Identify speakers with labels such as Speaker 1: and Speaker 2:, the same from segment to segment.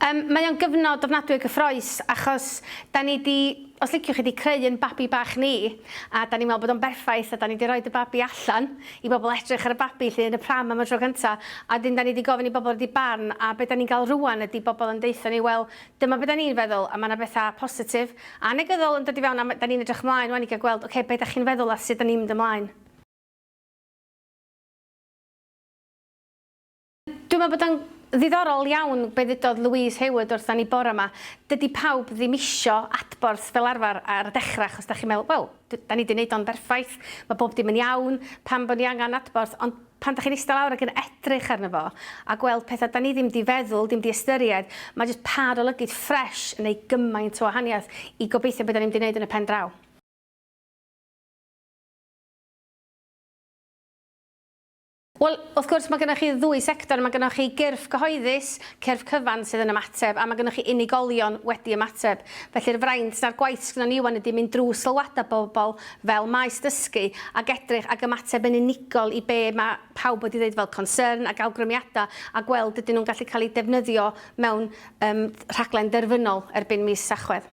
Speaker 1: Um, mae o'n gyfnod ofnadwy o gyffroes achos da ni di, os liciwch chi, di creu yn babi bach ni a da ni'n meddwl bod o'n berffaith a da ni di roed y babi allan i bobl edrych ar y babi 'lly yn y pram am y tro cynta a 'dyn 'dan ni 'di gofyn i bobl roid 'u barn a be' 'dan ni'n ga'l rŵan ydi bobl yn deutho ni wel dyma be' 'dan ni'n feddwl a ma' 'na betha positif a negyddol yn dod i fewn a ma' 'dan ni'n edrych mlaen ŵan i ga'l gweld oce be' 'dach chi'n feddwl a sud 'dan ni'n mynd ymlaen. Dwi'n meddwl bod o'n ddiddorol iawn be ddudodd Louise Hayward wrtha ni bore 'ma. Dydi pawb ddim isio adborth fel arfer ar y dechra achos dach chi'n meddwl, wel, d- 'dan ni 'di neud o'n berffaith, ma' bob dim yn iawn, pam bo' ni angan adborth? Ond pan dach chi'n ista lawr ac yn edrych arno fo a gweld petha 'dan ni ddim 'di feddwl, ddim 'di ystyried, ma' jyst pâr o lygid ffresh yn neud gymaint o wahaniaeth i gobeithio be 'dan ni'n mynd i neud yn y pen draw. Wel, wrth gwrs, mae gennych chi ddwy sector. Mae gennych chi gyrff cyhoeddus, cyrff cyfan sydd yn ymateb, a mae gennych chi unigolion wedi ymateb. Felly'r fraint na'r gwaith sydd gennyn ni ŵan ydy mynd drwy sylwadau pobl fel maes dysgu ac edrych ac ymateb yn unigol i be mae pawb wedi ddeud fel concern ac awgrymiadau a gweld ydyn nhw'n gallu cael eu defnyddio mewn yym rhaglen derfynol erbyn mis Tachwedd.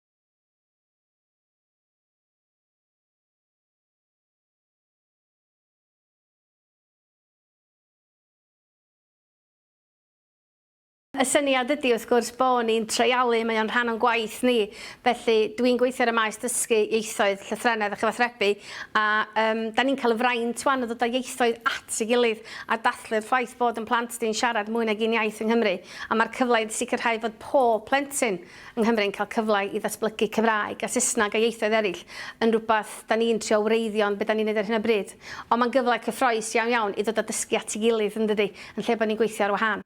Speaker 1: Y syniad ydy wrth gwrs bo' ni'n treialu, mae o'n rhan o'n gwaith ni, felly dwi'n gweithio ar y maes dysgu ieithoedd, llythrennedd a chyfathrebu, a um, da ni'n cael y fraint wan o ddod â ieithoedd at ei gilydd a dathlu'r ffaith bod yn plant di'n siarad mwy nag un iaith yng Nghymru, a mae'r cyfle i sicrhau fod pob plentyn yng Nghymru'n cael cyfle i ddatblygu Cymraeg a Saesneg a ieithoedd eraill yn rhywbeth da ni'n trio wreiddio'n be da ni'n neud ar hyn o bryd. Ond mae'n gyfle cyffroes iawn iawn i ddod a dysgu at ei gilydd, yn dydi? Yn lle bod ni'n gweithio ar wahân.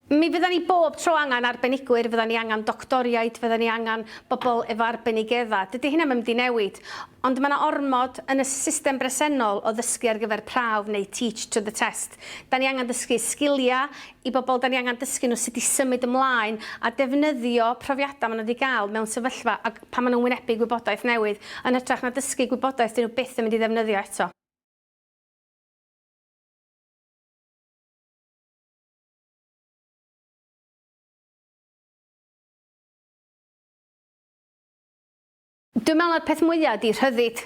Speaker 1: Mi fyddan ni bob tro angen arbenigwyr, fyddan ni angen doctoriaid, fyddan ni angen bobl efo arbenigeddau. Dydi hynna ddim 'di newid. Ond mae 'na ormod yn y system bresennol o ddysgu ar gyfer prawf neu teach to the test. Da ni angen dysgu sgiliau i bobl dan ni angen dysgu nhw sut i symud ymlaen a defnyddio profiadau maen nhw wedi gael mewn sefyllfa ag pan maen nhw'n wynebu gwybodaeth newydd yn hytrach na dysgu gwybodaeth dyn nhw byth yn mynd i ddefnyddio eto. Dwi'n meddwl na'r peth mwya ydi rhyddid,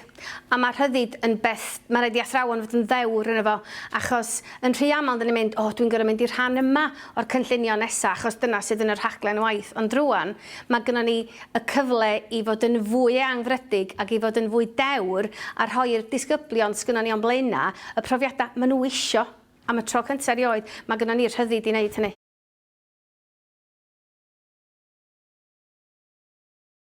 Speaker 1: a ma' rhyddid yn beth ma' raid i athrawon fod yn ddewr yno fo, achos yn rhy aml 'dan ni'n mynd, o dwi'n gor'o' mynd i'r rhan yma o'r cynllunio nesa achos dyna sydd yn y rhaglen waith, ond rŵan ma' gynnon ni y cyfle i fod yn fwy eangfrydig ag i fod yn fwy dewr a rhoi'r disgyblion s'gynnon ni o'n blaena' y profiada' ma' nhw isio, am y tro cynta' erioed ma' gynnon ni'r rhyddid i neud hynny.